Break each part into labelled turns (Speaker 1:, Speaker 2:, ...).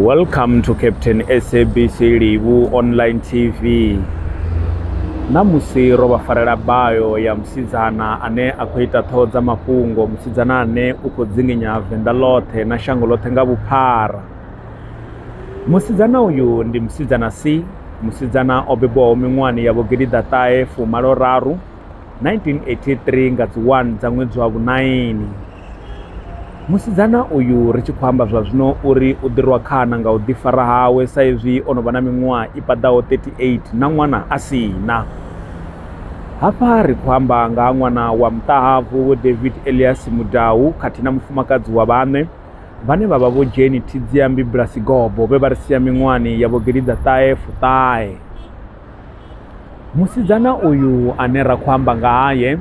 Speaker 1: welcome to captain sabc livhu online tv ṋamusi ro vha farela bayo ya musidzana ane a khou ita ṱhoho dza mafhungo musidzana ane u khou dzinginya venḓa ḽoṱhe na shango ḽoṱhe nga vhuphara musidzana uyu ndi musidzana c musidzana o bebwaho miṅwahani ya vhogidi ḓaṱahe fumalo raru 1983 nga dzi 1 dza ṅwedzi wa vhunaini musidzana uyu ri tshi khou amba zwa zwino uri u ḓirwa khana nga u ḓifara hawe sa izwi o no vha na miṅwaha i paḓaho 38 na ṅwana a si na hafha ri khou amba nga ha ṅwana wa muṱahabvu vho david elias mudau khathihi na mufumakadzi wa vhaṋe vhane vha vha vho dzheni thidziambi bulasi gobo vhe vha ri sia miṅwahani ya vhogidi ḓa ṱahe fuṱahe Musidzana uyu ane ra khou amba nga haye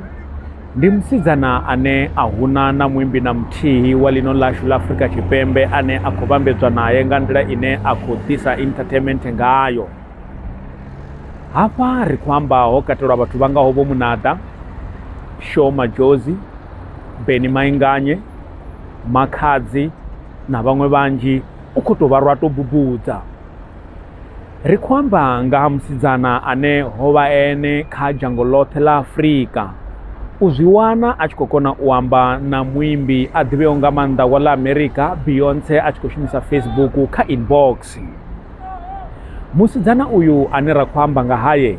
Speaker 1: ndi musidzana ane a huna na muimbi na muthihi wa ḽino ḽashu ḽa Afrika Tshipembe ane a khou vhambedzwa nae nga nḓila ine a khou ḓisa entertainment ngayo. Hafha ri khou amba ho katelwa vhathu vha ngaho vho Munaḓa, Sho Madjozi, Benny Mainganye, Makhadzi na vhaṅwe vhanzhi u khou tou vha lwa tou bubudza. Ri khou amba nga ha musidzana ane ho vha ene kha dzhango ḽoṱhe ḽa Afrika u zwi wana a tshi khou kona u amba na muimbi a ḓivheo nga maanḓa wa ḽa Amerika Beyonce a tshi khou shumisa Facebook kha inbox. Musidzana uyu ane ra khou amba nga haye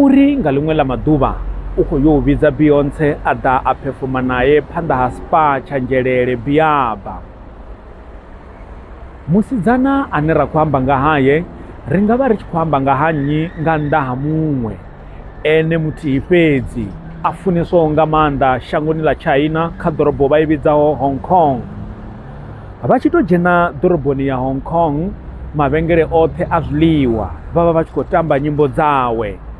Speaker 1: uri nga ḽiṅwe ḽa maḓuvha u khou yo vhidza Beyonce a ḓa a phefoma nae phanḓa ha spa tsha Nzhelele Biaba. Musidzana ane ra khou amba nga hae ri nga vha ri tshi khou amba nga ha nnyi nga nnḓa ha muṅwe ene muthihi fhedzi a funeswaho nga maanḓa shangoni ḽa China kha ḓorobo vha i vhidzaho Hong Kong. Vha tshi tou dzhena ḓoroboni ya Hong Kong mavhengele oṱhe a zwiḽiwa vha vha vha tshi khou tamba nyimbo dzawe.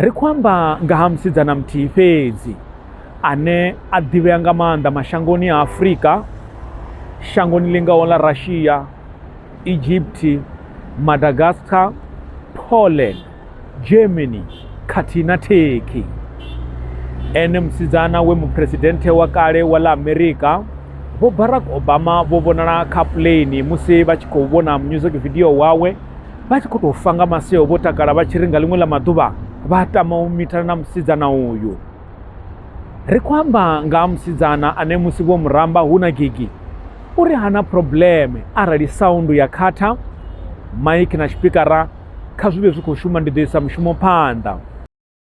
Speaker 1: Ri khou amba nga ha musidzana muthihi fhedzi ane a ḓivhea nga maanḓa mashangoni a Afrika, shangoni ḽi ngaho ḽa Russia, Egypt, Madagascar, Poland, Germany khathihi na Turkey. Ene musidzana we muphuresidenthe wa kale wa ḽa Amerika Vho Barack Obama vho vhonala kha puḽeini musi vha tshi khou vhona music video wawe vha tshi khou tou fa nga maseo vho takala vha tshi ri nga ḽiṅwe ḽa maḓuvha vha tama u mithana na musidzana uyu ri khou amba nga ha musidzana ane musi vho muramba hu na gigi u ri hana probleme arali saundu ya khatha maiki na tshipikara kha zwi vhe zwi khou shuma ndi ḓo isa mushumo phanḓa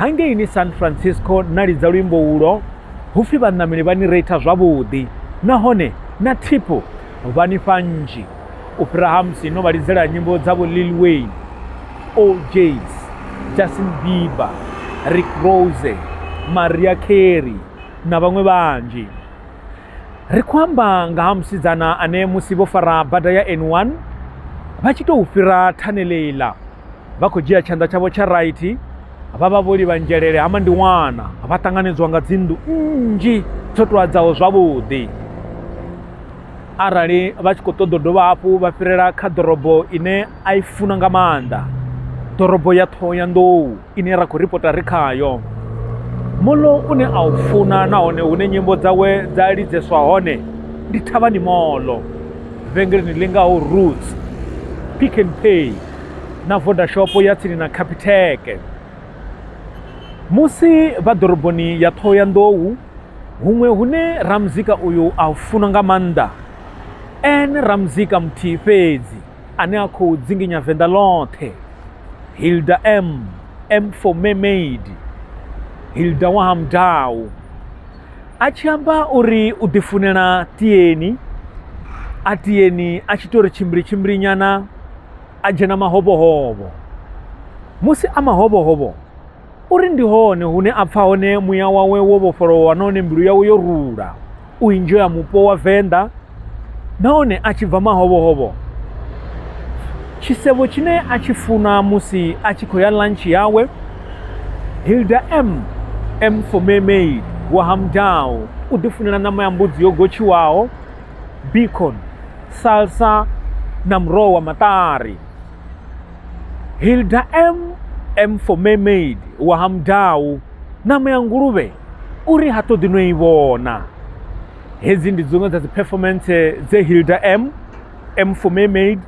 Speaker 1: hangei ni san francisco na lidza luimbo ulo hupfi vhaṋameli vha ni reitha zwavhuḓi nahone na thipo vha ni fha nzhi u fhira ha musi no vha lidzela nyimbo dza vho lil wayne ojs justin bieber rick rose maria carey na vhaṅwe vhanzhi Ri khou amba nga ha musidzana ane musi vho fara bada ya N1 vha tshi tou fhira thanele iḽa vha khou dzhia tshanḓa tshavho tsha right vha vha vho livha nzhelele ha mandiwana vha ṱanganedzwa nga dzinḓu nnzhi dzo toadzaho zwavhuḓi arali vha tshi khou ṱoḓa dovha hafhu vha fhirela kha ḓorobo ine a i funa nga maanḓa ḓorobo ya ṱhoho ya nḓou ine ra khou ripota ri khayo. Moḽo une a u funa nahone hune nyimbo dzawe dza lidzeswa hone ndi Thavhani Moḽo, vhengeleni ḽi ngaho Roots, Pick n Pay na Vodashopo ya tsini na Capitec. Musi vha ḓoroboni ya Ṱhohoyanḓou, huṅwe hune ramuzika uyu a u funa nga maanḓa, N ramuzika muthihi fhedzi. ane a khou dzinginya Venḓa ḽoṱhe, Hilda M, M for Mermaid, Hilda wa ha Mudau, a tshi amba uri u ḓifunela tieni a tieni a tshi tou ri tshimbili tshimbili nyana a dzhena mahovhohovho musi a mahovhohovho Uri ndi hone hune a pfa hone muya wawe wo vhofholowa nahone mbilu yawe yo rula u inzhoya mupo wa Venḓa nahone a tshi bva mahovhohovho tshisevho tshine a tshi funa musi a tshi khou ya lunch yawe Hilda M M for mermaid wa Hamdao u ḓifunela ṋama ya mbudzi yo gotshiwaho bacon salsa na muroho wa maṱari Hilda M. M for Mermaid wa ha Mudau, ṋama ya nguluvhe uri ha ṱoḓi no i vhona. Hedzi ndi dziṅwe dza dzi performance dze Hilda M. M for Mermaid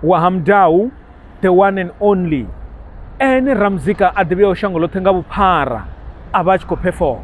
Speaker 1: wa ha Mudau, the one and only ene ramuzika a ḓivheaho shango ḽoṱhe nga vhuphara a vha a tshi khou perform